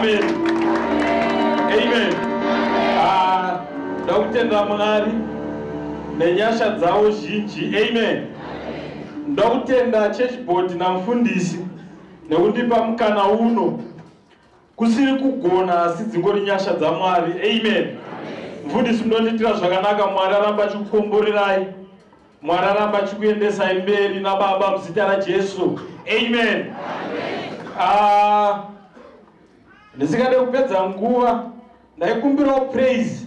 Amen. Amen. Ah, ndakutenda Mwari nenyasha dzawo zhinji. Amen. Ndakutenda church board namfundisi nekundipa mukana uno Kusiri kugona asi dzingori nyasha dzaMwari. Amen. Mfundisi munondiitira zvakanaka Mwari aramba achikukomborerai. Mwari aramba achikuendesai mberi naBaba muzita raJesu. Amen. Ah, ndisingade kupedza nguva ndaikumbirawo praise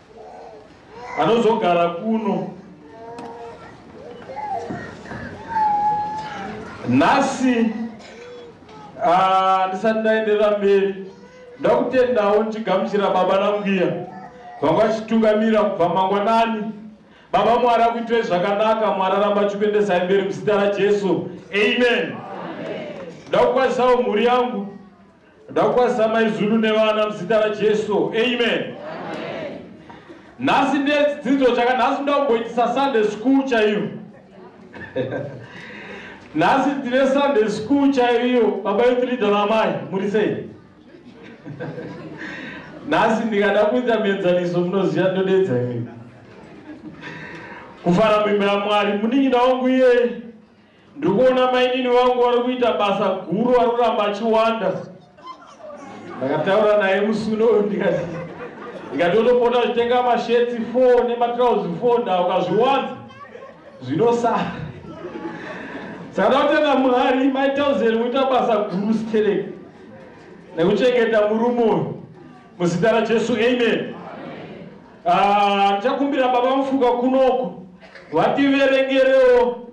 anozogara kuno nhasi ah, ndisati ndaenderera mberi ndakutendawo ndichigamuchira baba nambuya vanga vachitungamira kubva mangwanani baba mwari akuitire zvakanaka mwari aramba achikuendesai mberi muzita rajesu amen ndakukwanisawo mhuri yangu Ndakukwazisa mai Zulu nevana muzita raJesu. Amen. Nhasi ndedzidzo chaka nhasi ndakumboitisa Sunday school chaiyo. Nhasi ndine Sunday school chaiyo baba youth leader namai muri sei? Nhasi ndikada kuita mienzaniso munoziva ndodedza imimi. Kufara mimba yaMwari munin'ina wangu iye Ndikuona mainini vangu vari kuita basa guru ari kuramba achiwanda. Ndakataura naye musuno uyu ndikati ndikati otopota achitenga mashetsi four nematrauzi four nda ukazviwanza zvinosara. Saka ndakutenda Mwari mai Thousand kuita basa guru stereki nekuchengeta murume uyu muzita raJesu amen. Ah, ndichakumbira baba mufuka kunoku vativerengerewo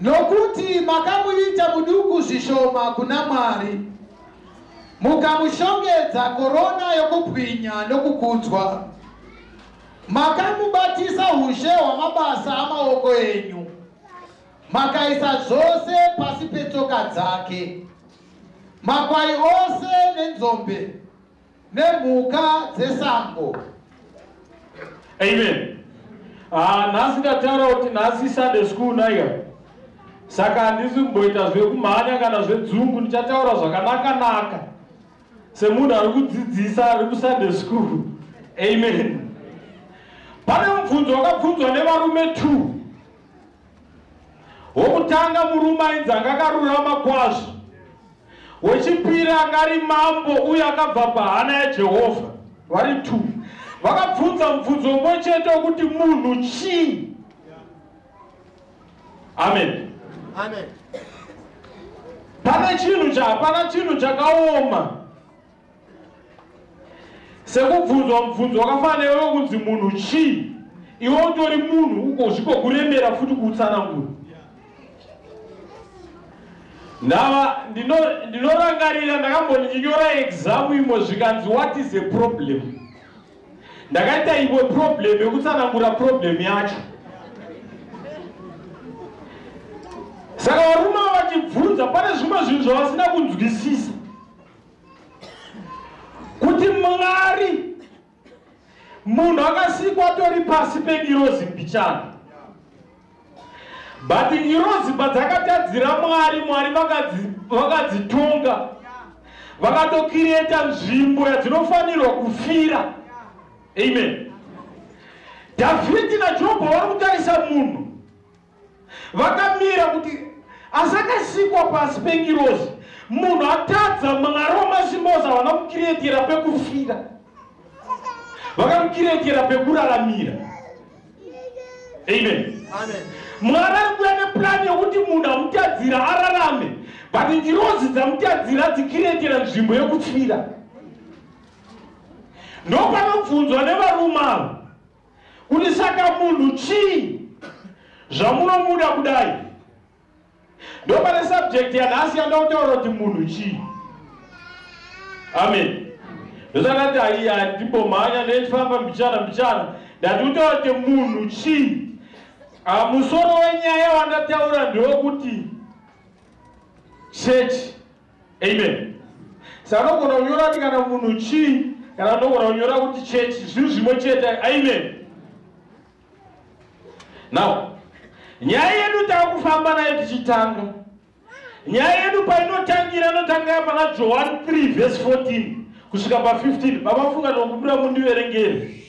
Nokuti makamuita muduku zvishoma kuna Mwari, mukamushongedza korona yokubwinya nokukudzwa, makamubatisa ushe hwamabasa amaoko enyu, makaisa zvose pasi petsoka dzake, makwai ose nenzombe, nemhuka dzesango amen Ah, nhasi ndataura kuti nhasi sunday school naika saka handisi kumboita zvekumhanya kana zvedzungu ndichataura zvakanakanaka semunhu ari kudzidzisa ari kusunday school amen pane mubvunzo wakabvunzwa nevarume two Wokutanga murume ainzi anga akarurama kwazvo, wechipiri anga ari mambo uye akabva pahana yaJehovha, vari two. Vakabvunza mubvunzo umwe chete wokuti munhu chii? Amen. Amen. Pane chinhu cha hapana chinhu chakaoma. sekubvunzwa mubvunzo wakafanana newe wekunzi munhu chii iwe utori munhu uko zvigokuremera futi kuutsanangura ndava ndinorangarira ndakamboninyora examu imwe zvikanzi what is a problem ndakaita imwe problem yekutsanangura problem yacho saka varume vachibvunza pane zvimwe zvinhu zvavasina kunzwisisa kuti mwari munhu akasikwa atori pasi pengirozi mbichana but ngirozi padzakatadzira mwari mwari vakadzitonga vakatokireta nzvimbo yadzinofanirwa kufira amen dhavhidhi najobho vari kutarisa munhu vakamira kuti asi akasikwa pasi pengirozi munhu atadza mwari wamazimozi havana kukiretera pekufira vakamukiretera pekuraramira amen mwari ari kuya nepurani yekuti munhu amutadzira ararame but ngirozi dzamutadzira dzikiretera nzvimbo yekufira ndopanobvunzwa nevarume avo kuti saka munhu chii zvamunomuda kudai ndopane subject yanhasi yanda kutaura kuti munhu chii amen ndosakati aiya ndimbomhanya nechifamba mbichana mbichana ndati kutaura kuti munhu chii ah, musoro wenyaya wandataura ndewekuti chechi amen sa anogona kunyora kuti kana munhu chii kana anogona kunyora kuti chechi zvinhu zvimwe chete amen now nyaya yedu takufamba nayo tichitanga nyaya yedu painotangira inotangira pana johani 3 vhesi 14 kusvika pa 15 baba funga nokubuda mundiverengeri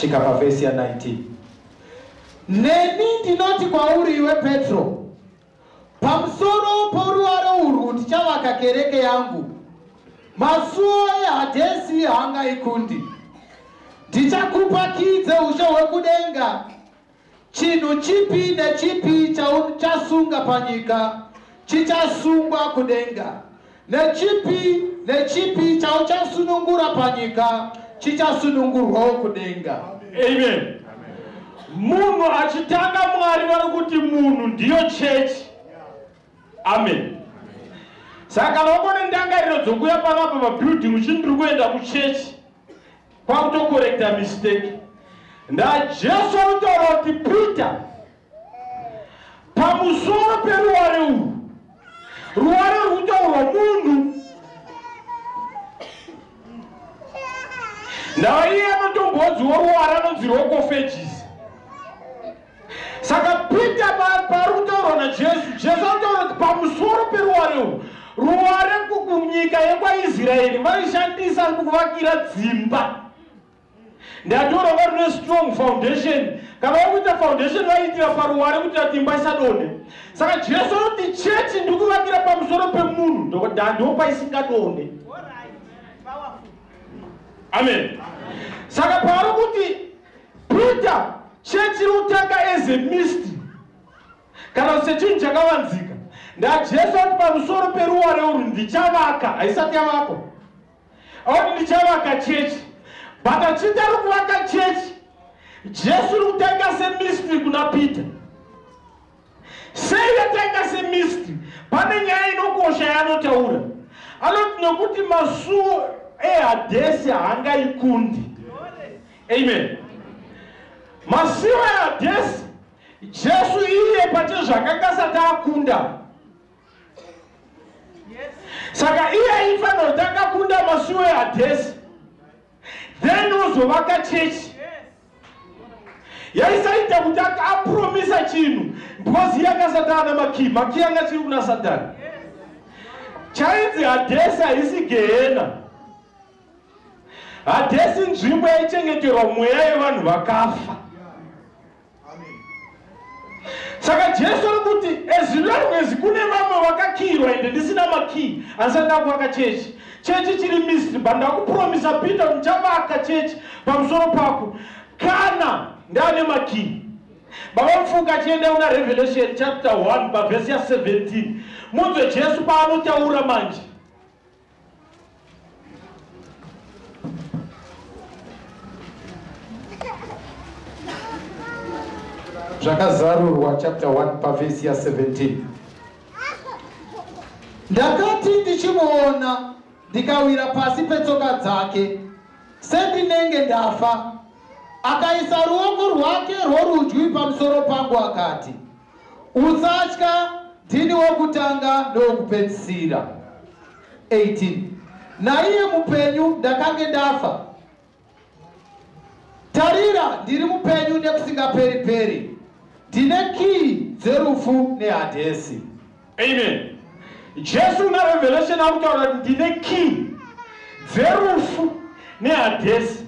svika pavhesi ya 19 neni ndinoti kwauri iwe petro pamusoro poruware urwu ndichavaka kereke yangu masuo ehadhesi hangaikundi ndichakupa kii dzeushe hwekudenga Chinhu chipi nechipi chauchasunga panyika chichasungwa kudenga, nechipi nechipi chauchasunungura panyika chichasunungurwawo kudenga. Amen. Munhu achitanga Mwari vari kuti munhu ndiyo chechi. Amen. Saka vangone ndangariro dzokuya panapa pabuilding uchindiri kuenda kuchechi. kwakutokorekta mistake najesu anotaura kuti peter pamusoro peruware urwu ruware rwutaurwa munhu naiye anotombodziwo ruware anonzi rwokofejisi saka pita pa- pari kutaurwa najesu jesu anotaura kuti pamusoro peruware urwu ruware ku- kunyika yekwaisraeri vaishandisa kuvakira dzimba ndatoura vari ne strong foundation kana vari kuita foundation vaiitira paruware kuti ati imba isadone saka jesu anoti chechi ndi kuvakira pamusoro pemunhu ndokuda ndipo paisingadone All right. Powerful. amen saka paari kuti Peter chechi rotanga as a mist kana kuti sechinhu chakavanzika ndajesu ati pamusoro peruware urwu ndichavaka haisati yavakwa auti ndichavaka chechi but achiti ari kuvaka chechi jesu ri kutanga semistri kuna peter Sei yatanga semistry? Pane nyaya inokosha yaanotaura. Anoti nokuti masuo eHadhesi haangaikundi. Amen. Masuo eHadhesi Jesu iye pache zvakanga asati akunda. Saka iye aifanira kuti akakunda masuo eHadhesi. Then ozovaka chechi. yaisaita kuti akapromisa chinhu because iye akasatana namakii makii anga chiri kuna satani chainzi hadhesi haisi gehena hadhesi nzvimbo yaichengeterwa mweya yevanhu vakafa saka jesu ari kuti as long as kune vamwe vakakiyirwa ende ndisina makiyi handisati ndakuvaka chechi chechi chiri misri but ndakupromisa peter kuti chavaka chechi pamusoro pako kana ndaane makiyi baba mfuka achienda kuna revelation chapter 1 pavhesi ya 17 munzwe jesu paanotaura manje zvakazarurwa chapter 1 pavhesi ya 17 ndakati ndichimuona ndikawira pasi petsoka dzake sendinenge ndafa akaisa ruoko rwake rworudyi pamusoro pangu akati Usatya, ndini wokutanga nowokupedzisira. 18 naiye mupenyu, ndakange ndafa. Tarira, ndiri mupenyu nekusingaperi-peri, ndine kiyi dzerufu neHadhesi. Amen. Jesu una revelation akutaura kuti ndine kiyi dzerufu neHadhesi.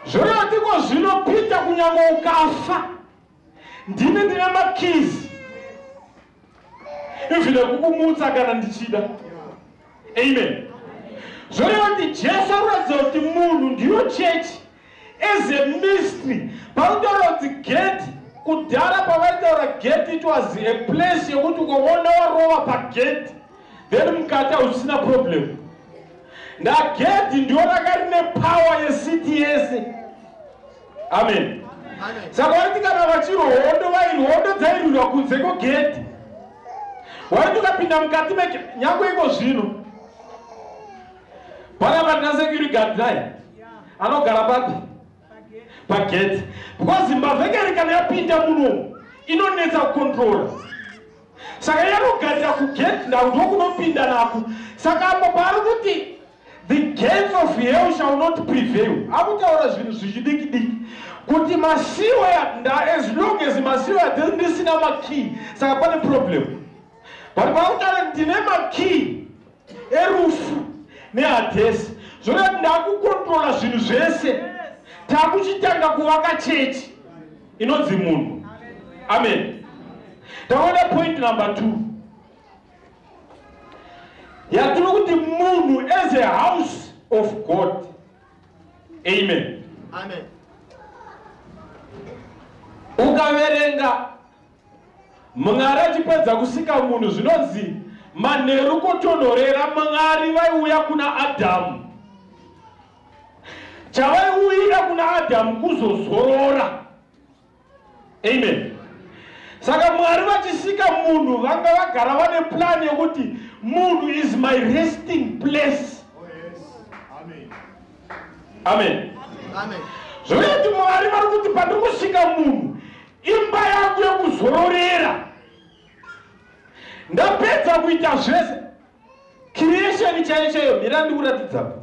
Zvoreva tiko zvino Peter kunyange ukafa Ndini ndine makeys even ekukumutsa kana ndichida. Amen. Zvoreva kuti Jesu anoratidza kuti munhu ndiyo chechi as a mystery. Pautaura kuti gate kudhara pavaitaura gate it was a place yekuti ukaona warova pagate then mukati hausina problem ndagedhi ndiyo raka rine power yecity yese amen saka waiti kana vachirwa hondo vairwa hondo dzairwirwa kunze kwegedhi waiti ukapinda mukati meke nyangwe iko zvino pana patina security guard naye anogara papi pagedhi because zimbabwe kari kana yapinda munomu inonetsa kukontrola saka yanogarira kugedhi ndakuti wokunopinda nako saka apo paari kuti The gates of hell shall not prevail. Akutaura zvinhu zvichidiki diki kuti masiwe as long as masiwe adhiri ndisina makey saka pane problem but pakutaura ndine makey erufu nehadhesi zvoda kuti ndakukontrola zvinhu zvese takuchitanga kuvaka chechi inonzi munhu amen taona point number two yatiri kuti munhu as a house of god amen amen ukaverenga mwari achipedza kusika munhu zvinonzi manheru kotonhorera mwari vaiuya kuna adhamu chavaiuyira kuna adhamu kuzozorora amen saka mwari vachisika munhu vanga vagara vane plan yekuti munhu is my resting place oh, amen zvoyati mwari vari kuti pandiri kusika munhu imba yangu yekuzororera ndapedza kuita zvese creation chaiyo chaiyo mira ndikuratidzapo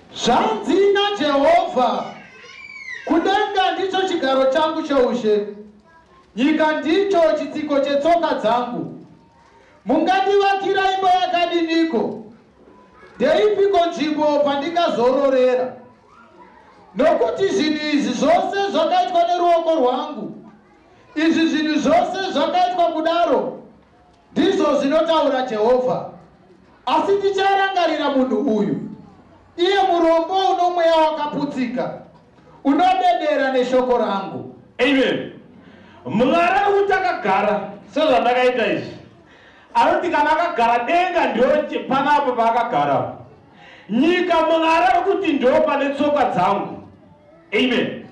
Zvanzi naJehovha, Kudenga ndicho chigaro changu choushe, nyika ndicho chitsiko chetsoka dzangu. Mungandivakira imba yakadiniko? Ndeipiko nzvimbo pandingazororera? Nokuti zvinhu izvi zvose zvakaitwa neruoko rwangu, izvi zvinhu zvose zvakaitwa kudaro Ndizvo zvinotaura Jehovha. Asi ndicharangarira munhu uyu, iye murombo unomweya wakaputsika, unodedera neshoko rangu. Amen. Mwari ari kuti akagara sezvandakaita izvi. Anoti kana akagara denga ndio pana apo paakagara. Nyika Mwari ari kuti ndio pane tsoka dzangu. Amen.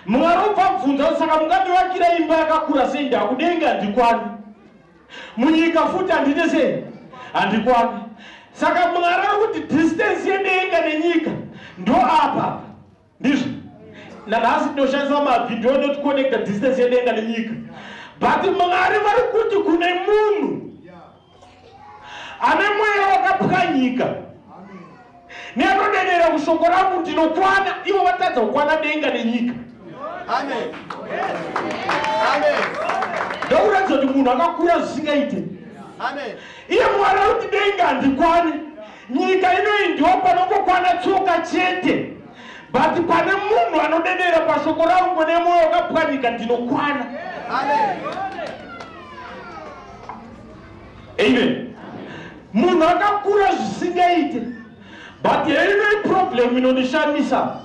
Mwari ubva bvunza kuti saka mungandivakira imba yakakura sei ndakudenga ndikwani? munyika futi handite sei handikwani saka mwari ari kuti distance yedenga nenyika ndo apa ndizvo nanhasi tinoshandisa mavhidhiyo anoticonnecta distance yedenga nenyika but mwari vari kuti kune munhu ane mweya wakapwanyika Neanodedera kushoko rangu ndinokwana, ivo vatadza kukwana denga nenyika. Amen. Amen. Ndakuratidza kuti munhu akakura zvisingaite. Amen. Iye Mwari ari kuti denga handikwani. Nyika inoyi ndiwo panongokwana tsoka chete. But pane munhu anodedera pashoko rangu nemoyo wakapwanyika ndinokwana. Amen. amen munhu akakura zvisingaite but heino iproblem inondishamisa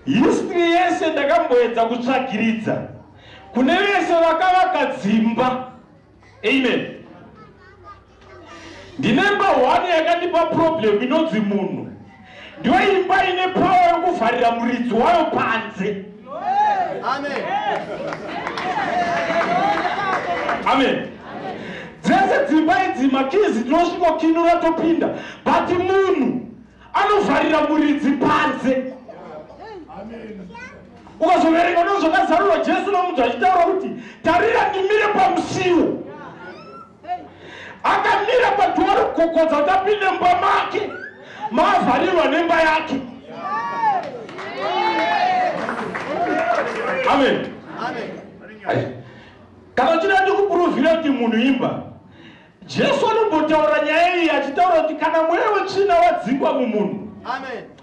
history yese ndakamboedza kutsvagiridza kune vese vakavaka dzimba amen ndinemba one yakandipa problem inonzi munhu ndiyo imba ine pawa yokuvharira muridzi wayo panze amen amen dzese dzimba idzi makizi tinosvikokinura topinda but munhu anovharira muridzi panze ukazoverenga ndozvakazarurwa jesu nomunhu achitaura kuti tarira ndimire pamusiwo akamira padhoro kukokodza kuti apinde mumba make maavharirwa nemba yake amen kana uchida ndi kupuruvhira kuti munhu imba jesu anombotaura nyaya iyi achitaura kuti kana mweya wetsvina wadzingwa mumunhu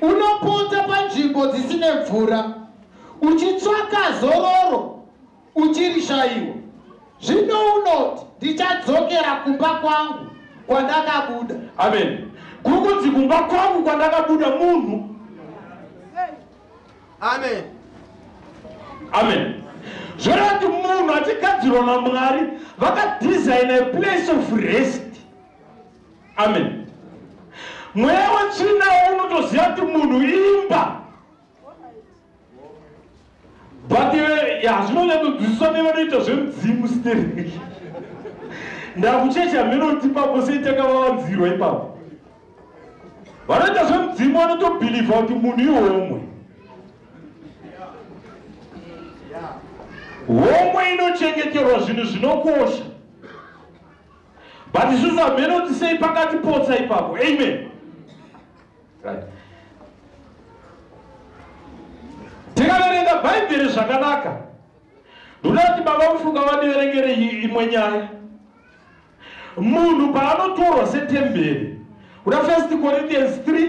Unopota panzvimbo dzisine mvura uchitsvaka zororo uchirishaiwa. Zvino unoti, Ndichadzokera kumba kwangu kwandakabuda. Amen. Kuri kunzi kumba kwangu kwandakabuda munhu. Amen. Amen. Zvoreva kuti munhu achigadzirwa naMwari vakadhizaina a place of rest amen mweya wetsvina unotoziva kuti munhu imba but eh, hazvinonyatsodzidziswa nevanoita zvemudzimu stereki ndakuchecha mhenoti ipapo sei takavavanzirwa ipapo vanoita zvemudzimu vanotobhilivha kuti munhu ihomwe homwe inochengeterwa zvinhu zvinokosha but isusu hameno kuti sei pakatipotsa ipapo amen right. tikaverenga bhaibheri zvakanaka ndoda kuti baba mufunga vandiverengere imwe nyaya munhu paanotorwa setemberi kuda first corinthians 3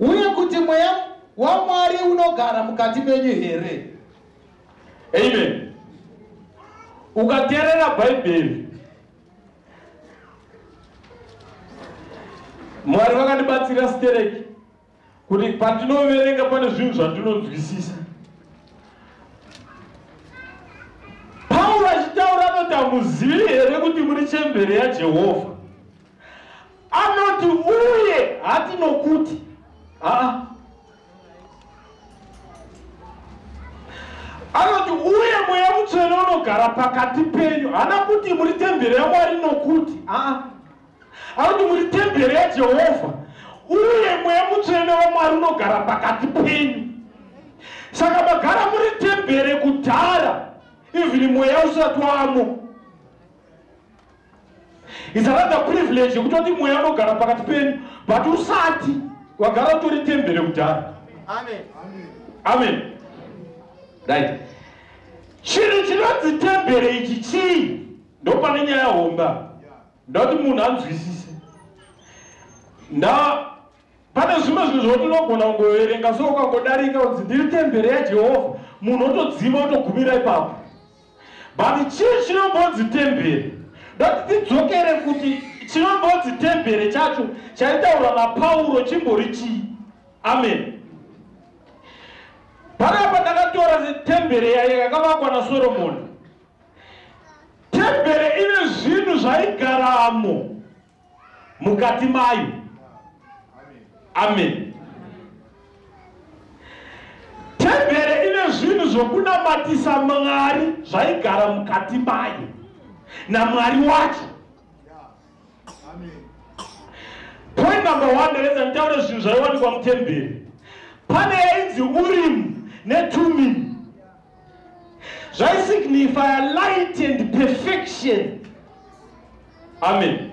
uye kuti mweya wamwari unogara mukati menyu here amen ukateerera bhaibheri mwari vakandibatsira stereki kuti pandinoverenga pane zvinhu zvandinonzwisisa pauro achitaura anoti hamuzivi here kuti muri chembere yajehovha anoti uye hati nokuti haa anoti uye mweya mutsvene unogara pakati penyu hana kuti muri tembere yamwari nokuti haa anoti muri tembere yajehovha uye mweya mutsvene wamwari unogara pakati penyu saka magara muri tembere kudhara ivhini mweya usati wamo It's another privilege yekutoti mweya unogara pakati penyu but usati wagara utori tembere kudhara. Amen. Amen. Right. Chinhu chinonzi tembere ichi chii? Ndopane nyaya homba. Ndoti munhu anzwisise. Now Pane zvimwe zvinhu zvokuti unogona kungoverenga so ukangodarika kunzi ndiri tembere yaJehovha, munhu otodzima otogumira ipapo. But chii chinombonzi tembere? Ndoda kuti tidzokere kuti chinombonzi tembere chacho chaitaurwa naPauro chimbori chii? Amen. Panapa ndakatora tembere yayo yakavakwa naSoromoni. Tembere ine zvinhu zvaigaramo mukati mayo amen tembere ine zvinhu zvokunamatisa mwari zvaigara mukati mayo namwari wacho point number one nderedza nditaure zvinhu zvaiwanikwa mutembere pane yainzi urimu netumini zvaisignifya light and perfection amen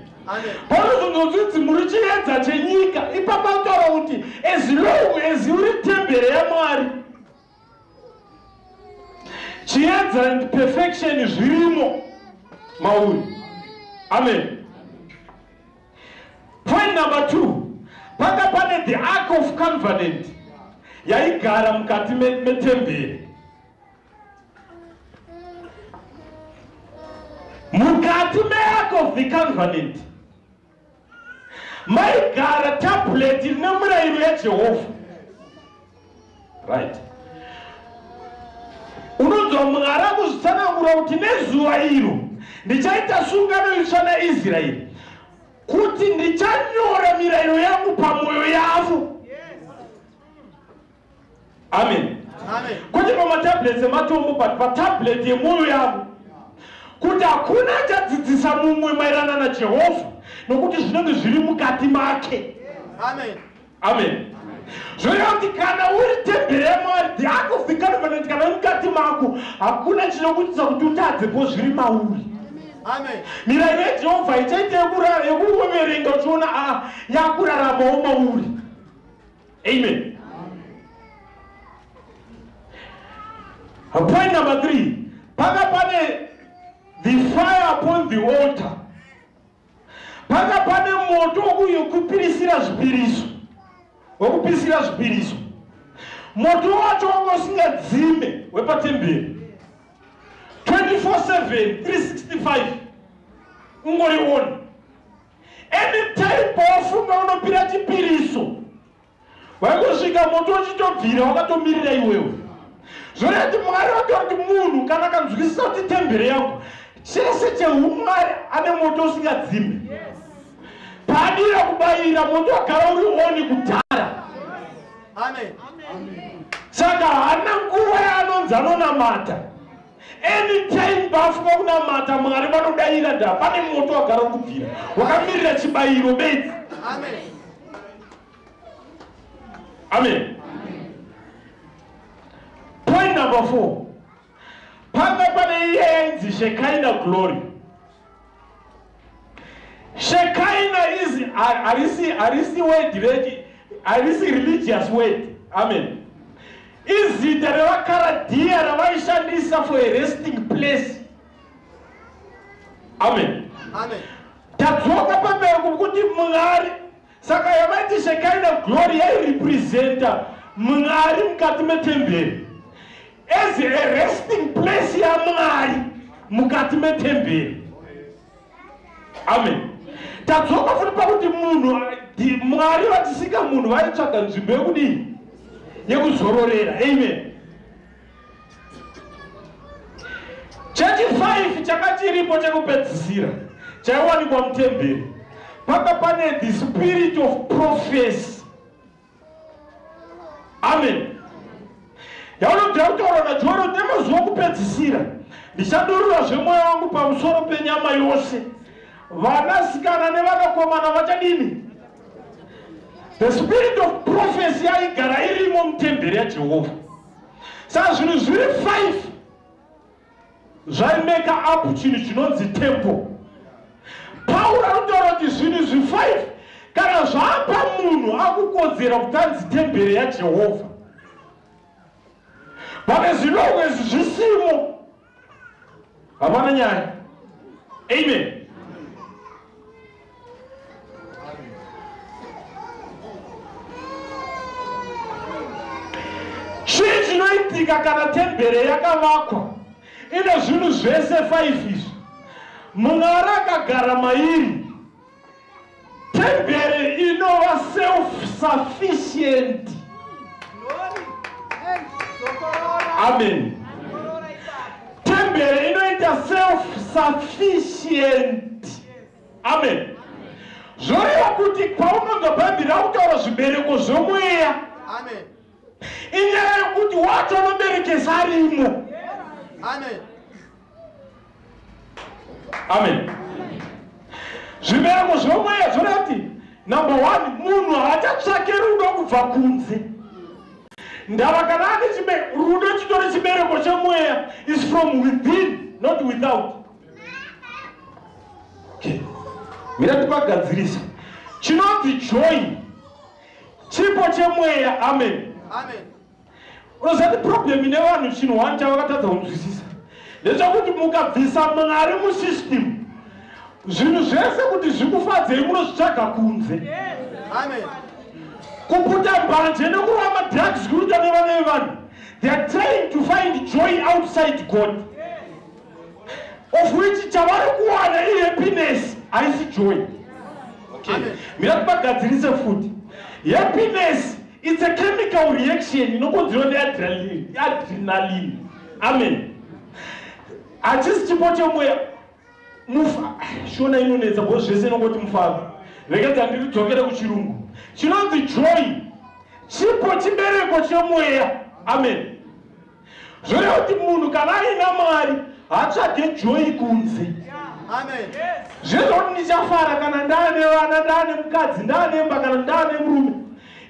panozotonzi kuti muri chiedza chenyika ipapa kutaura kuti as long as uri tembere yamwari chiedza and perfection zvirimo mauri amen Point number two, panga pane the ark of covenant yaigara mukati metemberi mukati meark of the covenant maigara tablet ine murayiro yajehovha right unonzwa mwari akuzvitsanangura kuti nezuva iro ndichaita sungano itsva naisraeri kuti ndichanyora mirayiro yangu pamwoyo yavo amen kwete pamatablets ematombo but patablet yemwoyo yavo kuti hakuna achadzidzisa mumwe maerana najehovha nokuti zvinenge zviri mukati make amen amen zvoreva kuti kana uri tembere yamwari the act of the covenant kana uri mukati mako hakuna chinokuitisa kuti utadze po zviri mauri mirayiro yejehovha ichaita yekuverenga uchiona a ah, yakuraramawo mauri amen point number three paka pane the fire upon the altar Panga pane moto uyo kupirisira zvipiriso wekupisira zvipiriso moto wacho wanga usingadzime wepatemberi 24/7 365 ungori one anytime pawafunga unopira chipiriso waitosvika moto uchitobvira wakatomirira iwewe zvoreva kuti mwari vataura kuti munhu kana akanzwisisa kuti tembere yangu chese cheumwari ane moto usingadzime paadira kubayira moto wagara uri oni kudhara saka haana nguva yaanonzi anonamata Anytime bafu vakunamata Mwari vanodaira nda pane moto wagara kubvira wakamirira chibayiro bedzi. Amen. Amen. Point number 4. Panga pane iye yainzi Shekinah glory. Shekaina is arisi arisi word reki arisi religious word. Amen. Izita revakaradia ravaishandisa for a resting place. Amen. Amen. Tadzoka pamberi kuti Mwari Saka yavaiti Shekinah glory yairepresenta Mwari mukati metemberi as a resting place yaMwari mukati metemberi. Amen. Tadzoka futi pakuti munhu Mwari vatisika munhu vaitsvaga nzvimbo yekudii? Yekuzororera. Amen. chechifaifi changa chiripo chekupedzisira chaiwanikwa mutemberi paka pane the spirit of prophecy amen yaunobvira kutaura najoero nemazuva kupedzisira ndichadurura zvemweya wangu pamusoro penyama yose vanasikana nevanakomana vachadini the spirit of prophecy yaigara irimo mutemberi yajehovha saka zvinhu zviri five zvaimeka up chinhu chinonzi temple pauro anotaura kuti zvinhu zvi five kana zvaapa munhu akukodzera kuti anzi tembere yajehovha vane zvinongo izvi zvisimo hapana nyaya amen chii chinoitika kana tembere yakavakwa ine zvinhu zvese faifi izvi munhu ari akagara mairi Temberi inova self-sufficient. Amen. Temberi inoita self-sufficient. Amen. Zvoreva kuti paunonzwa Bhaibheri rakutaura zvibereko zvomweya. Amen. Inyaya yekuti wacho anoberekesa arimo. Amen. amen zvibereko zvinomweya zvona kuti number one munhu haachatsvake rudo kubva kunze ndava kana ane chibe rudo chitori chibereko chemweya is from within not without okay. mira tipagadzirisa chinonzi joy chipo chemweya amen, amen. unoziva kuti problem ine vanhu chinhu one chavakatadza kunzwisisa ndechekuti mukabvisa mwari musystem zvinhu zvese kuti zvikufadzei munozvitsvaga kunze kuputa mbanje nekurova madrugs kuruta nevana vevanhu theyare trying to find joy outside god of which chavari kuwana ihappiness haisi joy okay. mira kubagadzirise futi happiness its a chemical reaction inokonzerwa neadrenaline amen hachisi chipo chemweya mufa shona inonetsa bo zvese inongoti mufaro rekedza ndiri dzokere kuchirungu chinonzi joy chipo chibereko chemweya amen zvoreva kuti munhu kana aina mari hatsvage joyi kunze zvezvakuti ndichafara kana ndaane vana ndaane mukadzi ndaanemba kana ndaane murume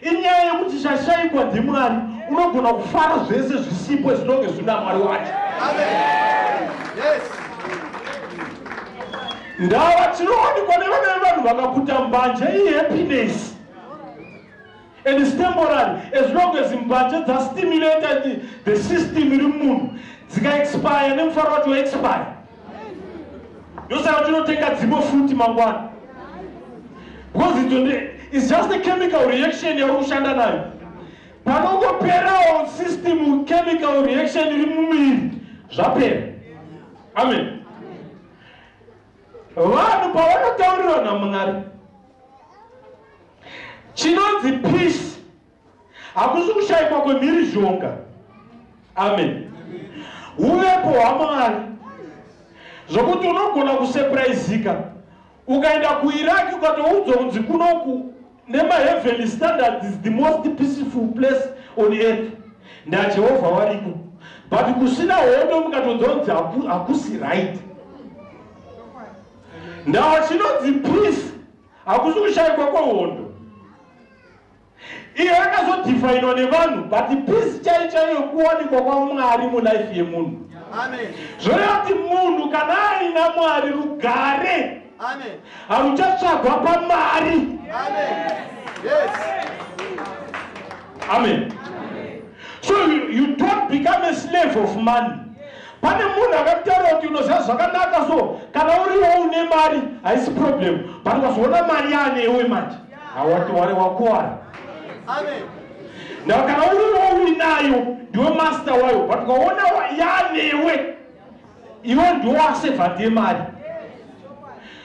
inyaya yekuti zvashaikwa ndimwari unogona kufara zvese zvisipo zvinonge zvina mwari wacho ndava tinowanikwa nevamene vanhu vakakuta mbanje ihappiness and is temporary as long as mbanje dza stimulated the system iri munhu dzika expire nemufaro wacho expire ndosaka tinotenga dzimwe futi mangwana because it is just a chemical reaction yauri kushanda nayo panongoperawo system chemical reaction iri mumiri zvapera amen Vanhu pavanotaurirwa naMwari chinonzi peace hakusi kushaikwa kwemhirizhonga. Amen. Uvepo hwaMwari zvokuti unogona kusurprisika ukaenda kuIraq ukatoudzwa kunzi kunoku nema heavenly standards is the most peaceful place on earth najehovha variko but kusina hondo mukatonzwa kunzi hakusi right now chinonzi peace hakusi kushaikwa kwehondo iyo yakazodefinwa nevanhu but peace chai chaiyo kuwanikwa kwamwari mulife yemunhu zvoreva kuti munhu kana aina mwari rugare Amen. Hamuchatsvagwa pamari. Amen. Yes. Amen. So you, you don't become a slave of money. pane munhu akakutaura kuti unoziva zvakanaka so kana uriwo une mari haisi problem but ukazoona mari yaanewe manje hawati wari wakuwara now kana uriwo uinayo ndiwe master wayo but ukaona yaanewe iwe ndiwo aseva ndiye mari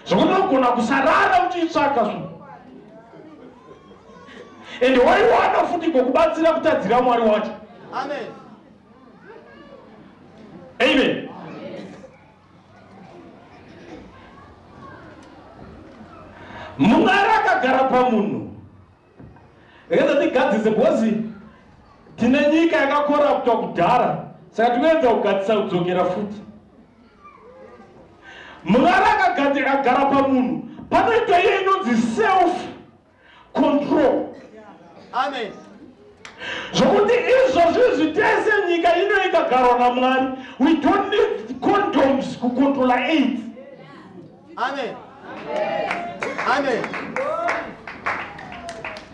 zvokunogona kusarara uchiitsvaga zvo ende waiwana futi ngokubatsira kutadzira mwari wacho amen amen mwari akagara pamunhu Rega tigadzise because tine nyika yakakoraptwa kudhara saka tinoedza kugadzisa kudzokera futi. Murara akagadzika agara pamunhu panoitwa iye inonzi self control. Amen. Zvokuti izvozvi zvitese nyika ino ikagarwa naMwari we don't need condoms kucontrola AIDS. amen amen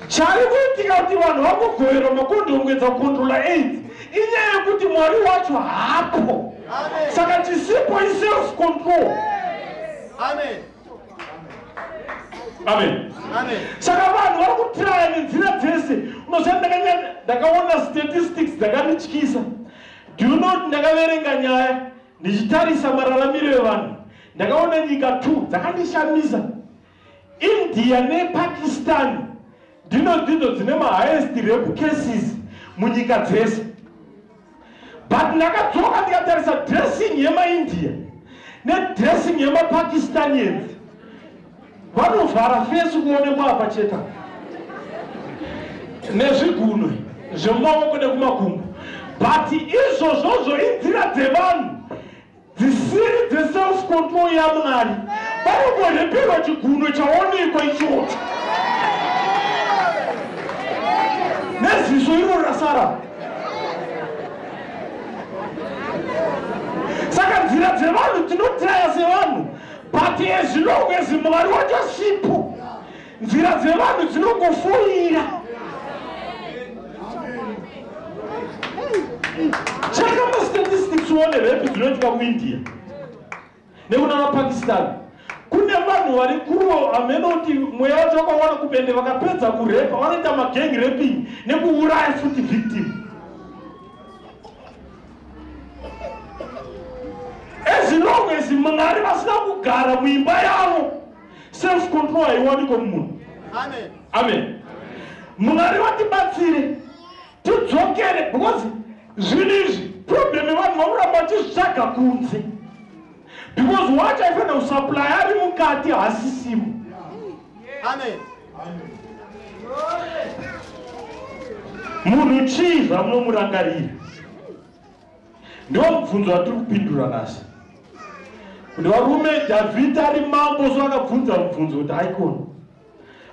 chari kuitika kuti vanhu vakugoverwa makondongwedza kukondrola aids inyaya yekuti mwari wacho hapo saka chisipo iself control amen amen saka vanhu vari kutiraya nenzira dzese unoziva ndakaona statistics dzakanityisa do you know ndakaverenga nyaya Ndichitarisa mararamiro evanhu ndakaona nyika two dzakandishamisa. India nePakistan ndino ndidzo dzine mahighest rape cases munyika dzese. But ndakadzoka ndikatarisa dressing yemaIndia nedressing yemaPakistanians Vanovhara fesi kuonekwa apa cheta nezvigunwe zvemumaoko nekumakumbo but izvozvozvo inzira dzevanhu dzisiri dzeself control yamwari vanongoreperwa chigunwe chaonekwa ichocho neziso iro rasara saka nzira dzevanhu tinotaya sevanhu but as long as mwari wacho sipo nzira dzevanhu dzinongofoira chaka mastatistics one repi dzinoitika kuindia nekuna mapakistan kune vanhu vari kuruo amene kuti mweya wacho wakawana kupende vakapedza kurepa vanoita magengi reping nekuuraya futi victim as long as mwari vasina kugara muimba yavo self control haiwaniko mumunhu amen, amen mwari vatibatsire tidzokere because zvinhu izvi problem yevanhu vakuramba vachizvitsvaga kunze because wacho aifanira kusuplaya ari mukati hasisimo munhu chii zvamunomurangarira ndiwo mubvunzo watiri kupindura nhasi kuti varume dhavhidhi ari mambo so akabvunza mubvunzo kuti aikona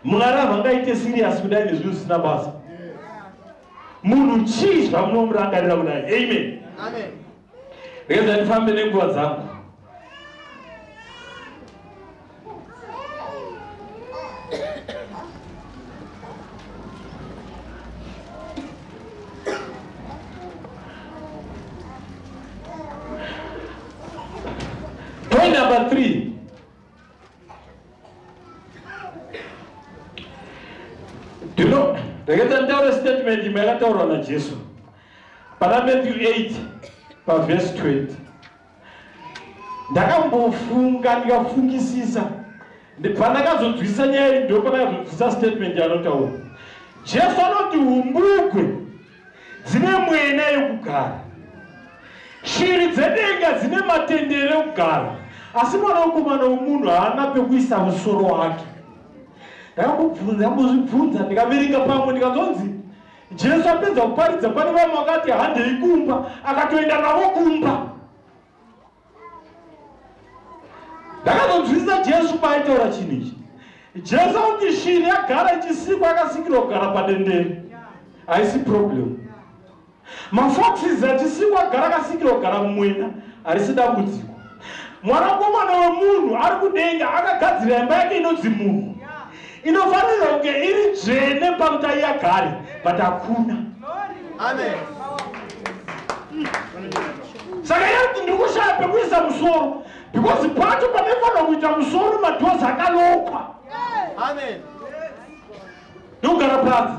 mwari havangaite siriyasi kudai nezvinhu zvisina basa munhu chii zvamunomurangarira kudai amen, amen. Rega ndifambe nenguva dzangu. Point number three. Do you know, rega nditaure statement imwe yakataurwa naJesu. Pana Matthew 8 pavhesi 20 ndakambofunga ndikafungisisa pandakazonzwisisa nyaya iyi ndo pandakazonzwisisa statement yaanotaura jesu anoti umbugwe dzine mwena yekugara shiri dzedenga dzine matendere ekugara asi mwana wekomana wemunhu haana pekuisa musoro wake ndakambobvunza ndikambozvibvunza ndikaverenga pamwe ndikanzonzi Jesu apedza kuparidza pane vamwe vakati handei kumba, akatoenda navo kumba. Ndakazonzwisisa Jesu paaitaura chinhu ichi. Jesu akuti shiri yagara ichisikwa yakasikirwa kugara padendere. Haisi problem. Mafoxes achisikwa agara akasikirwa kugara mumwena harisi dambudziko. Mwanakomana wemunhu ari kudenga akagadzira imba yake inonzi munhu. Inofanirwa kunge iri dzvene panguta iyagare, but hakuna. Amen. Saka yati ndiri kushaya pekuisa musoro because pacho pamefanira kuita musoro madhozi akalokwa. Amen. Ndokugara panze.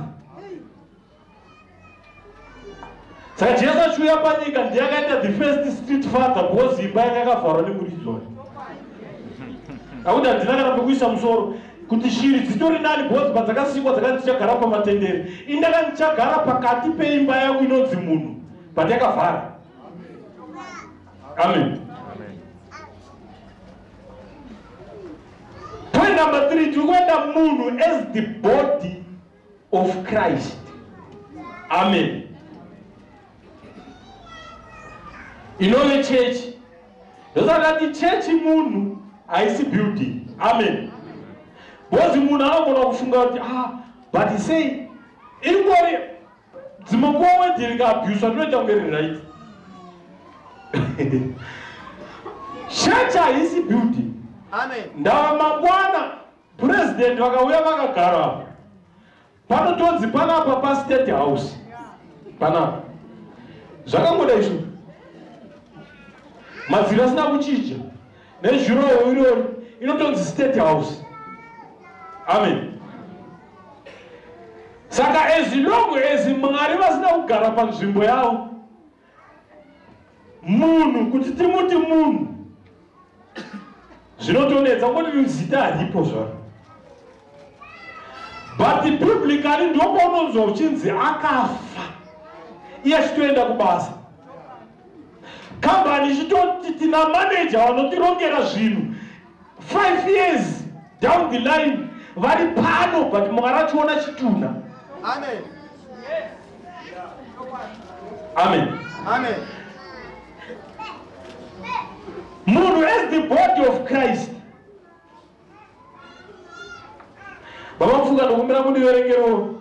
saka jesu achiuya panyika ndiye akaita the first street father because imba yake yakavharwa nemuridzwa akuti handina kana pekuisa musoro kuti shiri dzitori nani because padzakasikwa dzaka ndichagara pamatendere indaka ndichagara pakati peimba yangu inonzi munhu but yakavhara amen point number three tiri kuenda munhu as the body of Christ. Amen. Inove church. Ndosaka ti church munhu haisi building. Amen. Bozi munhu anogona kufunga kuti ah but sei ingori dzimwe nguva wedi rikaabhuswa ndinoita kunge riri right. Church haisi building. Amen. Ndava mangwana President vakauya vakagara apa panotonzi panapa pastate house panapa zvakangoda izvo madziro asina kuchinja nezhurowo irori inotonzi state house amen saka ezilongo ezi mwari vasina kugara panzvimbo yavo munhu kuti timuti munhu zvinotonetsa kuti zita haripo zvaro but biblically ndopaunonzwa uchinzi akafa iye achitoenda kubasa kambani ichitoti tina maneja vanotirongera zvinhu 5 years down the line vari pano but mwari achiona chitunha amen amen amen munhu as the body of christ baba mufunga ndokumbira mundiverengerewo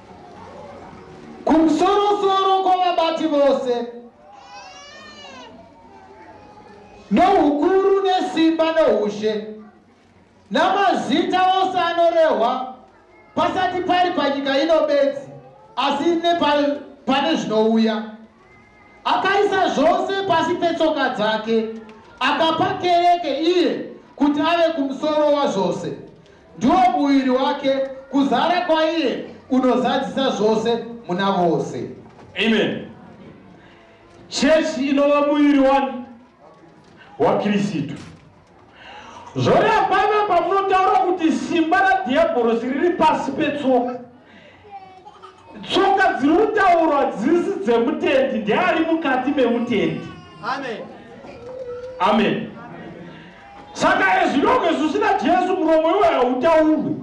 Kumsorosoro kwavabati vose noukuru nesimba noushe namazita ose anorehwa pasati pari panyika ino bedzi asi nepane zvinouya Akaisa zvose pasi petsoka dzake, akapa kereke iye kuti ave kumusoro wazvose. Ndiwo muviri wake, kuzara kwaiye kunozadzisa zvose muna vose. Amen. Chechi inova muviri wani? WaKirisitu. Zvoreva paiva pamunotaura kuti simba radhiabhorosi riri pasi petsoka. Tsoka dziri kutaurwa hadzisi dzemutendi, ndeari mukati memutendi. Amen. Amen. Saka ezvinonge zvisina Jesu muromo iwe hautaurwi.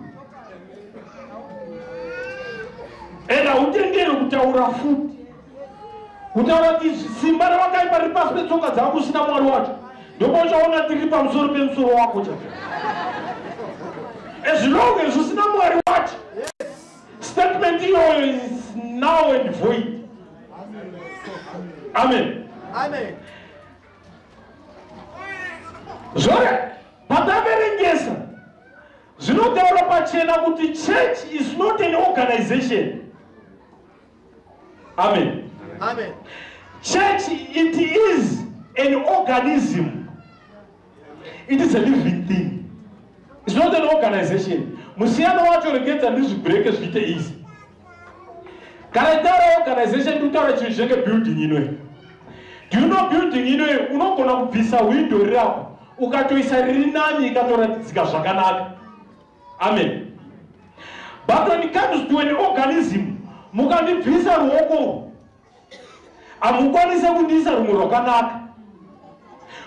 And hautenderi kutaura futi. kutaura izvi simba rawakaipa riri pasi petsoka dzangu usina mwari wacho ndokwauchaona ndiri pamusoro pemusoro wako chao as long as usina mwari wacho statement iyoyo is now and void amen zvore pataverengesa zvinotaura pachena kuti church is not an organization amen amen church it is an organism it is a living thing it's not an organization musiyano wacho regedza ndizvibreke zviite easy kana itaura organization ndikutaura chinhu chinenge building inoe do you know building inoe unogona kubvisa window rirapo ukatoisa riri nani ikatoratidzika zvakanaka amen but when it comes to an organism mukandibvisa ruoko urwu hamukwanise kundiisa rumwe rwakanaka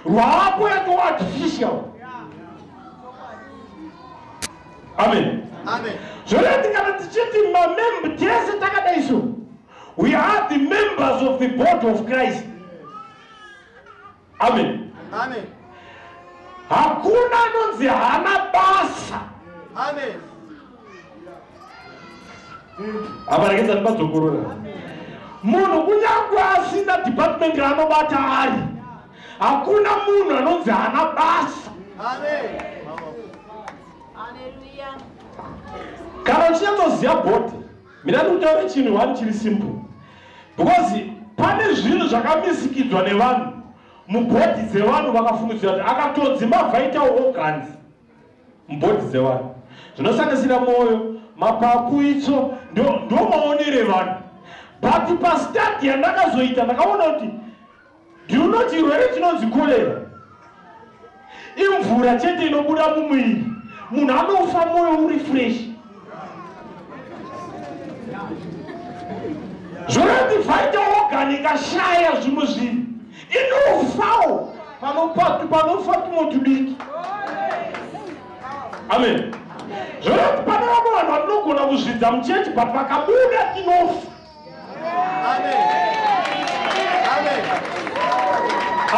rwaapo yatoo artificial amen zvoda tingati tichiti mamembe tese takadai so we are the members of the body of christ amen amen hakuna anonzi hana basa amen abarekeza ndibadzokorora munhu kunyangwe asina department raanobata ari hakuna munhu anonzi hana basa kana uchinyatsoziva body Mina ndikutaura chinhu one chiri simple because pane zvinhu zvakamisikidzwa nevanhu mubhodhi dzevanhu vakafungidzira kuti akatodzi mabva aitawo organs mubhodhi dzevanhu zvinosanganisira mwoyo mapapu itso ndo maonere vanhu but pastadi yandakazoita ndakaona kuti Do you know chirwere chinonzi cholera? Imvura chete inobuda mumwiri. Munhu anofa moyo uri fresh. Zvorati vaita organ ikashaya zvimwe zvinhu. Inofawo panopatu panofa tumwe tudiki. Amen. Zvorati pane vamwe vanhu vatinogona kuzvidza muchechi but vakabuda tinofa.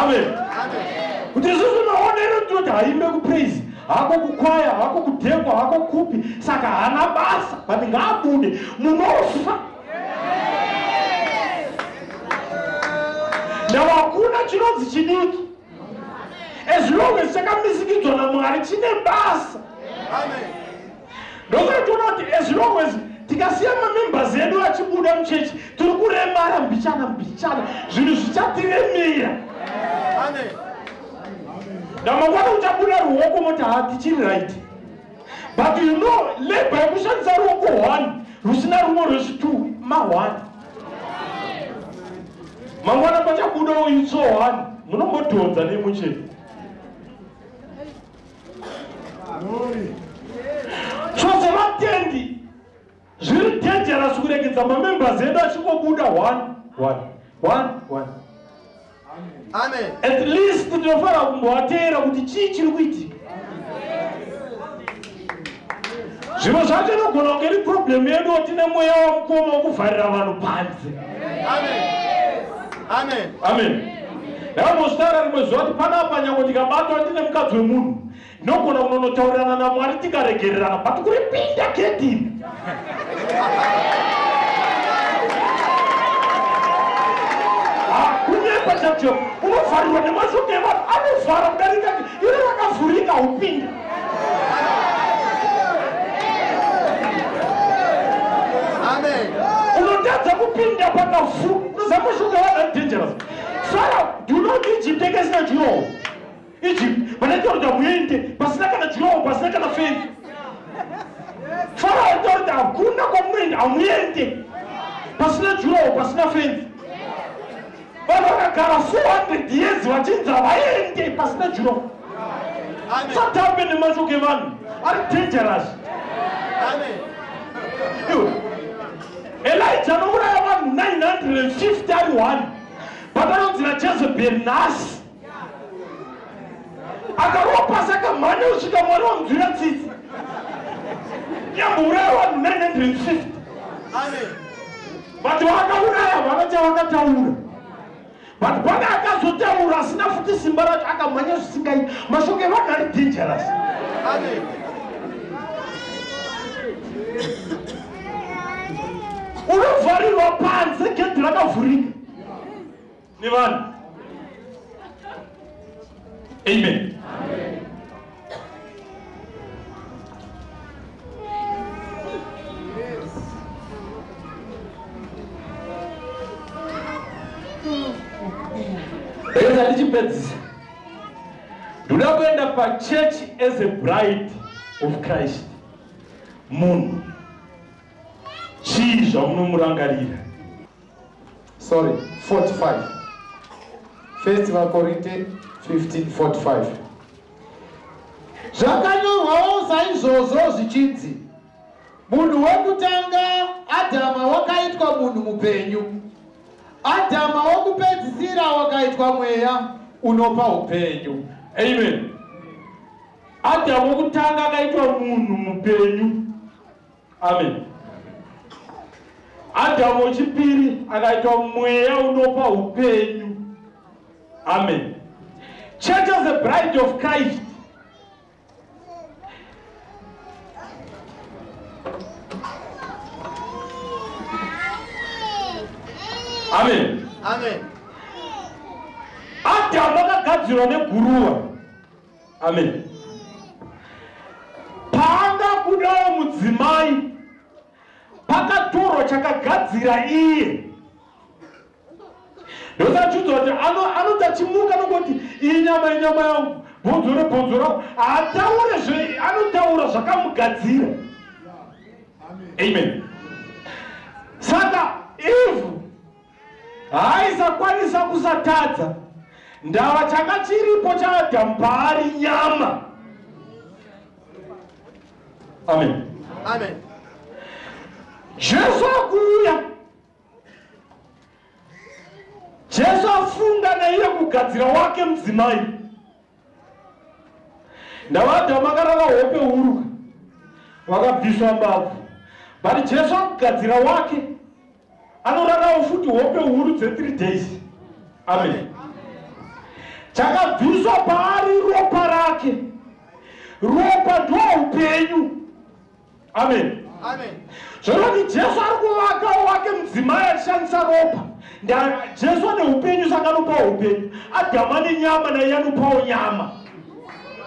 amen kuti isusu maonero ndinoti haimbe kupraise hako kukwaya hako kudhekwa hako kupi saka hana basa but ngaabude munofa now hakuna chinonzi chidiki as long as chakamisikidzwa namwari chine basa Amen. ndokaitoona kuti as long as tikasiya mamembers edu achibuda muchechi tiri kuremara mbichana mbichana zvinhu zvichatiremera ndamangwana uchabuda ruoko moti ha tichiri right but you know labor yekushandisa ruoko one rusina rumwe rwezvitwo mahwani mangwana pachabuda uyu tso one munombodhonza nemucheni chose vatendi zviri dangerous kuregedza mamembers edu achingobuda one one one one amen at least tinofanira kumbovateera kuti chii chiri kuitika Zvimwe zvacho inogona kunge iri problem yedu tine mweya wamukoma wokuvharira vanhu panze. Amen. Amen. Amen. Ndakambozvitaura rimwe zuva kuti panapa nyangwe ndikabatwa ndine mukadzi wemunhu ndinogona kunonotaurirana naMwari tikaregererana but kuripinda gedini. Hakunyepa chacho unovharirwa nemashoko evanhu anovhara kudarika iro rakavhurika upinda. unotadza kupinda pakafu zamushuka vana dangerous fara do you know kuti egypt yake isina jurowo egypt vanaita kuti hamuende pasina kana jurowo pasina kana fenzi fara aita kuti hakuna kwamunoenda hamuende pasina jurowo pasina fenzi Vanhu vakagara 400 years vachinzi havaende pasina juro. Satambe nemashoko evanhu ari dangerous. Elijah anouraya vanhu 950 ari one. Pakanonzi naJezebel nhasi akarova pasi akamhanya kusvika mwari vamudzwira tsitsi nyambouraya vanhu 950 but vakauraya vana chavakataura but pane akazotaura asina futi simba racho akamhanya zvisingai mashoko evanhu ari dangerous unovharirwa panze gedhi rakavhurika nevanhu amen reza ndichipedzisa ndoda kuenda pachurch as a bride of christ munhu chii zvamunomurangarira sorry 45 first vakorinte 1545 zvakanyorwawo saizvozvo zvichinzi munhu wekutanga adhama wakaitwa munhu mupenyu adhama wokupedzisira wakaitwa mweya unopa upenyu amen adhama wokutanga akaitwa munhu mupenyu amen adhamu wechipiri akaitwa mweya unopa upenyu amen church as a bride of christ amen amen adamu akagadzirwa neguruwa amen paanga kudawo mudzimai pakatorwa chakagadzira iye ndosachudzwa kuti anoti achimuka nokoti iyi nyama yenyama yangu bhonzo rebhonzo rangu haataure zve anotaura zvakamugadzira amen saka ivhu Haaisakwanisa kusatadza ndava changa chiripo chaAdhamu paari nyama. Amen. Amen. Jesu akuuya. Jesu afunga naiye kugadzira wake mudzimai. Ndava Adhamu akarava hope huru vakabviswa mbabvu. But Jesu akugadzira wake. anorarawo futi hope huru dze3 days amen chakabviswa paari ropa rake ropa ndoupenyu amen zvoroti jesu ari kuvakawo wake mudzimai achishandisa ropa jesu ane upenyu saka anopawo upenyu adhama nenyama naiye anopawo nyama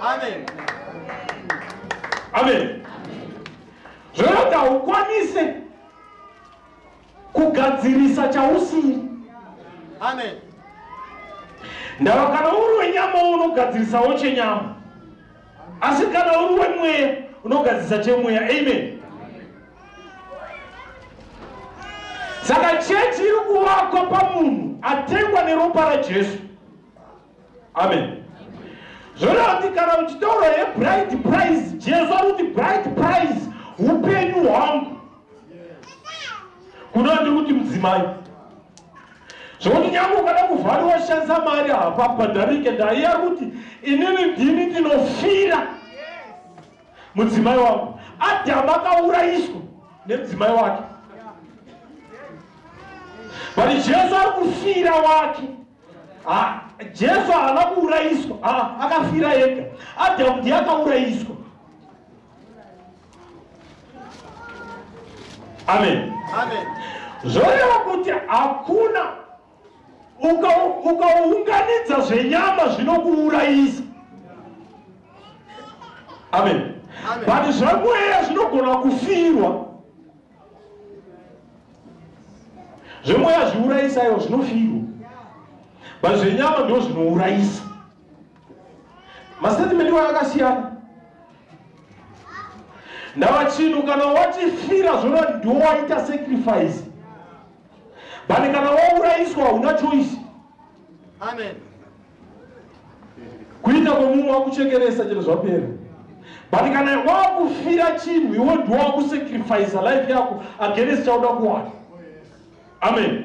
amen amen zvoroti haukwanise kugadzirisa chausiri amen ndava kana uri wenyama unogadzirisawo chenyama asi kana uri wemweya unogadzirisa chemweya amen saka chechi iri kuvakwa pamunhu atengwa neropa rajesu amen zvoreva kuti kana uchitaura yebride price jesu ari kuti bride price upenyu hwangu kuno ndiri kuti mudzimai zvokuti nyange ukada kuvhari washandisa mari hapa bhadharike ndaiya kuti inini ndini ndinofira mudzimai wangu adhamu akaurayiswa nemudzimai wake but jesu ari kufira wake Ah, Jesu haana kuurayiswa, ah, akafira ega. Adamu ndiye akaurayiswa. Amen. Amen. Zvoreva kuti hakuna ukaunganidza uka zvenyama zvinokuurayisa. Amen. Amen. But zvamweya zvinogona kufirwa. zvemweya zviurayisa iwo zvinofirwa but zvenyama ndo zvinourayisa mastatimenti wayo akasiyana ndava chinhu kana watifira zvona ndowaita sacrifice but kana waurayiswa hauna choice amen kuita kwemumwe wakuchekeresa chero zvapera but kana wakufira chinhu iwe ndiwo wakusacrifice life yako against chauda kuwana amen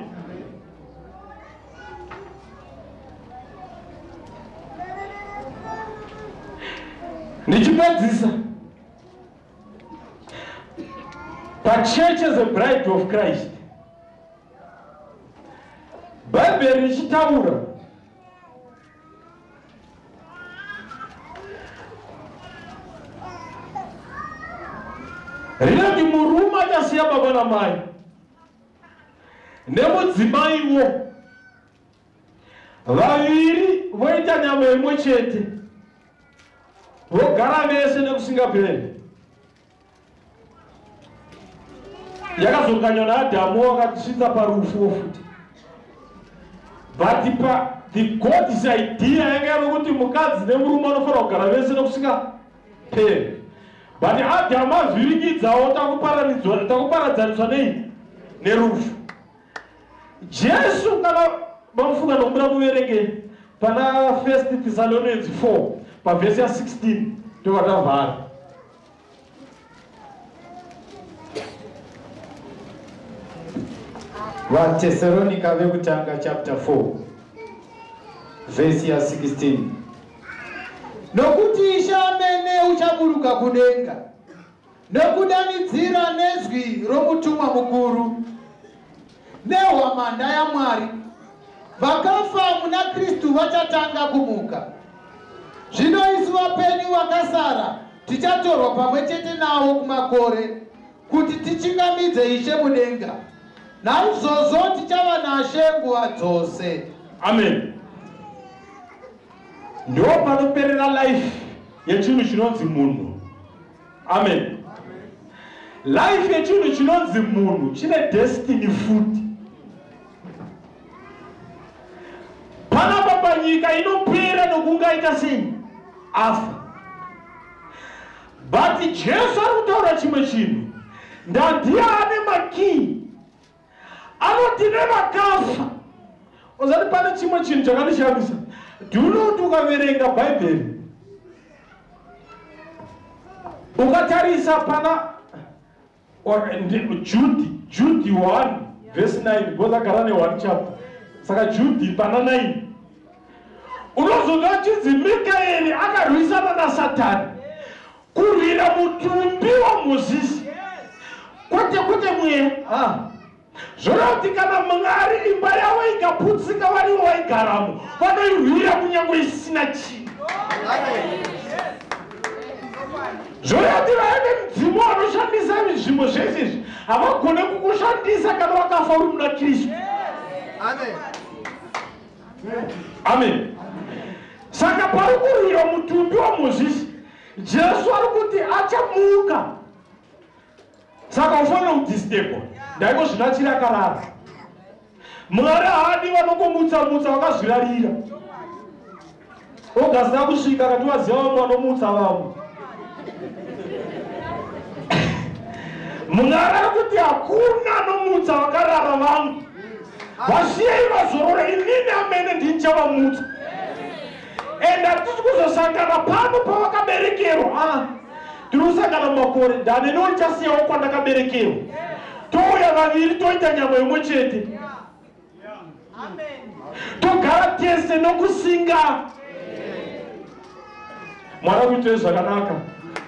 ndichipedzisa pachurch as a bride of christ bhaibheri richitaura rinoti murume achasiya baba namai nemudzimaiwo vaviri voita nyama imwe chete vogara vese nekusingaperi yakazonganywa naadhamu wakatisvitsa parufuwo futi but pa the god's idea yanga yave kuti mukadzi nemurume anofanira kugara vese nekusika pere but adhamu azvirikidzawo takuparadzaniswa nei nerufu jesu kana mamufunga nokubuda muverenge pana first thessalonians 4 pavhesi ya 16 ndokatavhara vatesaronika vekutanga chapter 4 vhesi ya 16 nokuti ishe amene uchaburuka kudenga nokudanidzira nezwi romutumwa mukuru Nehwamanda yaMwari, vakafa muna Kristu vachatanga kumuka. Zvino isu vapenyu vakasara tichatorwa pamwe chete navo kumakore kuti tichingamidze Ishe mudenga. Naizvozvo tichava naShe nguva dzose. Amen. Ndipo panoperera life yechinhu chinonzi munhu. amen life yechinhu chinonzi munhu chine destiny futi panapa panyika inopera nokungaita sei afa but jesu ari kutaura chimwe chinhu ndandiya ane makii anoti nevakafa uzati pane chimwe chinhu chakandishamisa dhunoti ukaverenga bhaibheri ukatarisa pana judhi judhi 1 vhesi 9 because agara ne1 chapter saka judhi pana 9 unozoda chinzi mikaeri akarwisana nasatani Kurwira mutumbi waMozisi kwete kwete mweya. Ah. Zvoreva kuti kana Mwari imba yavo ikaputsika varivo vaigaramo vanoirwira kunyange isina chinhu. Zvoreva kuti vaine mudzimu vanoshandisa zvinhu zvese izvi havagone kukushandisa kana wakafa uri muna Kristu. Amen. Saka pari kurwira mutumbi waMozisi jesu ari kuti achamuka saka ufanira kudistebwa ndaiko zvino achiri akarara mwari haadi vanongomutsamutsa vakazvirarira ogasina kusvika kati vaziva vamwe vanomutsa vamwe mwari ari kuti hakuna anomutsa vakarara vangu vasiyei vazorora inini amene ndinchavamutsa and hatisi kuzosangana pano pawakaberekerwa ah, tinosangana makore ndane ndoichasiyawo kwandakaberekerwa touya vaviri toita nyama imwe chete togara tese nokusinga mwari akuitei zvakanaka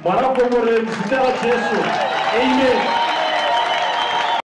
mwari akuongorere muzita rajesu amen